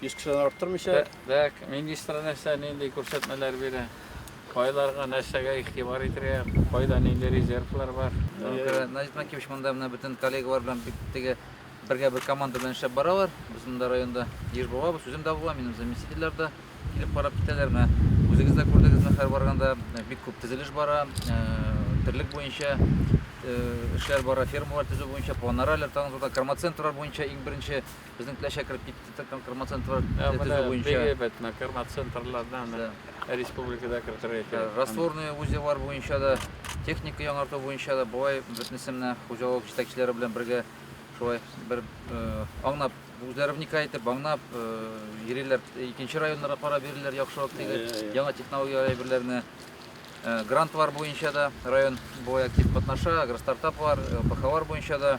100 кешедән арттырмыйча. Дәк, министр нәрсә, нинди күрсәтмәләр бирә? Кайларга, нәрсәгә игътибар итергә, кайда нинди резервлар бар? Наҗип Накиевич монда менә бөтен коллегалар белән бик теге бергә бер команда белән эшләп баралар. Без монда районда еш булабыз, үзем дә булам, минем заместительләр дә килеп карап китәләр. Менә үзегез дә күрдегез, менә һәр барганда бик күп төзелеш бара, терлек буенча эшләр бара, фермалар төзү буенча, планнар әле тагын зурда, кормоцентрлар буенча иң беренче Безнең теләчә кереп китте Төркем кырма центрлар төзү буенча. Бик әйбәт, кырма центрлардан республикада кертергә кирәк. Растворный узеллар буенча да, техника яңарту буенча да болай бөтенесе менә хуҗалык җитәкчеләре белән бергә шулай бер аңнап, үзләре вникай итеп аңнап йөриләр. Икенче районнарга карап йөриләр яхшырак теге яңа технологияләр әйберләрне. Грантлар буенча да район болай актив катнаша, агростартаплар, ПХлар буенча да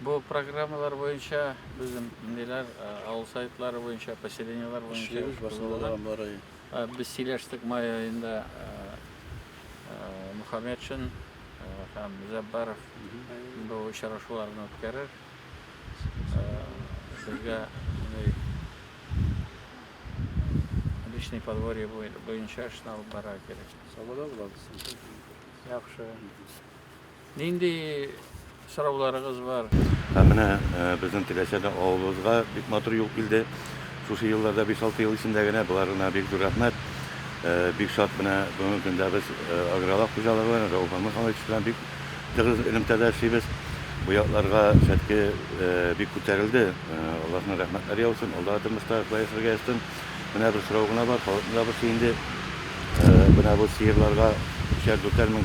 Бу программалар буенча безнең ниләр авыл советлары буенча поселениелар буенча без сөйләштек май аенда Мухаммедшин һәм Зәббаров бу очрашуларны үткәрер. Безгә личный подворье буенча эшне алып барырга кирәк. Сабада булабыз. Яхшы. Нинди сорауларыгыз бар? Һәм менә безнең теләсәдә авылыбызга бик матур юл килде. Шушы елларда 5-6 ел эчендә генә боларына бик зур рәхмәт. Бик шат менә бүгенге көндә без агролак хуҗалыгы белән, Рәүф Мөхәммәтович белән бик тыгыз элемтәдә эшлибез. Бу якларга Шәтке бик күтәрелде. Аллаһның рәхмәтләре яусын, алда да тормышта шулай яшәргә язсын. Менә бер сорау гына бар, халыкны да борчый инде. Менә бу сыерларга өчәр-дүртәр мең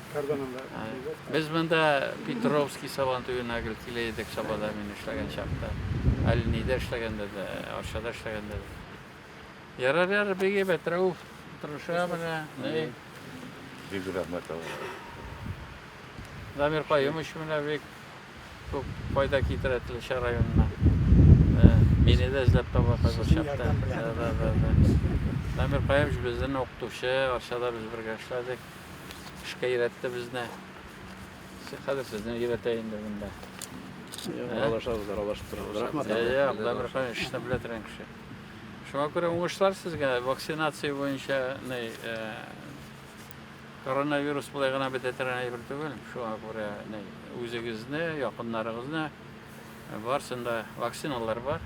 Без монда Петровский сабантуена гел килә идек Сабада мин эшләгән чакта. Әле нидә эшләгәндә дә, Арчада эшләгәндә дә. Ярар, ярар, бик әйбәт, Рәүф, тырыша менә. Бик рәхмәт алга. Дамир каем өчен менә бик күп файда китерә Теләчә районына. Мине дә эзләп таба хәзер чакта. Дамир каем безнең укытучы, Арчада без бергә эшләдек. Эшкә өйрәтте безне. Хәзер сезне өйрәтә инде монда. Аралашабыз, аралашып торабыз. Рәхмәт. Як, Дәмирхан эшне белә торган кеше. Шуңа күрә уңышлар сезгә вакцинация буенча ни э, коронавирус былай гына бетә торган әйбер түгел. Шуңа күрә ни үзегезне, якыннарыгызны э, барсында вакциналар бар.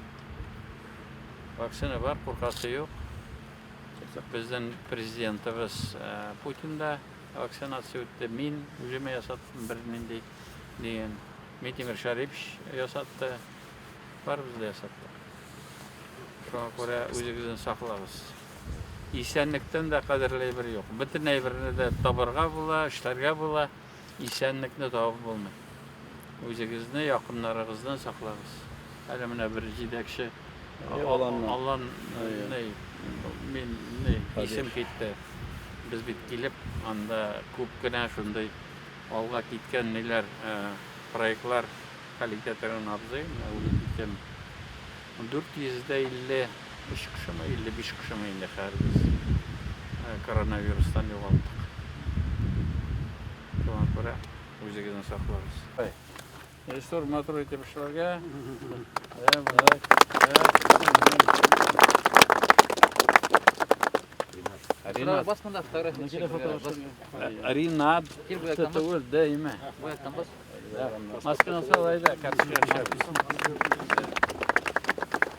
Вакцина бар, куркасы юк. Безнең президентыбыз Путин да вакцинация үтте, мин үземә ясаттым бернинди дигән. Митимир Шәрипович ясатты. Барыбыз да ясаттык. Шуңа күрә үзегезне саклагыз. Исәнлектән дә кадерле әйбер юк. Бөтен әйберне дә табырга була, эшләргә була. Исәнлекне табып булмый. Үзегезне, якыннарыгызны саклагыз. Әле менә бер җидәкче Аллан ней, мин ней, исем китте. Без бит килеп, анда күп кенә шундый алга киткән ниләр, проектлар хәл итә торган абзый, менә үлеп киткән. 453 кешеме, 55 кешеме инде хәер без коронавирустан югалттык. Шуңа күрә үзегезне саклагыз. Режиссер матур итеп эшләргә. Ринат. Бас монда фотография. Ринат. Түгел, дәйме. Масканы салай да, кәпсәләр чәбез.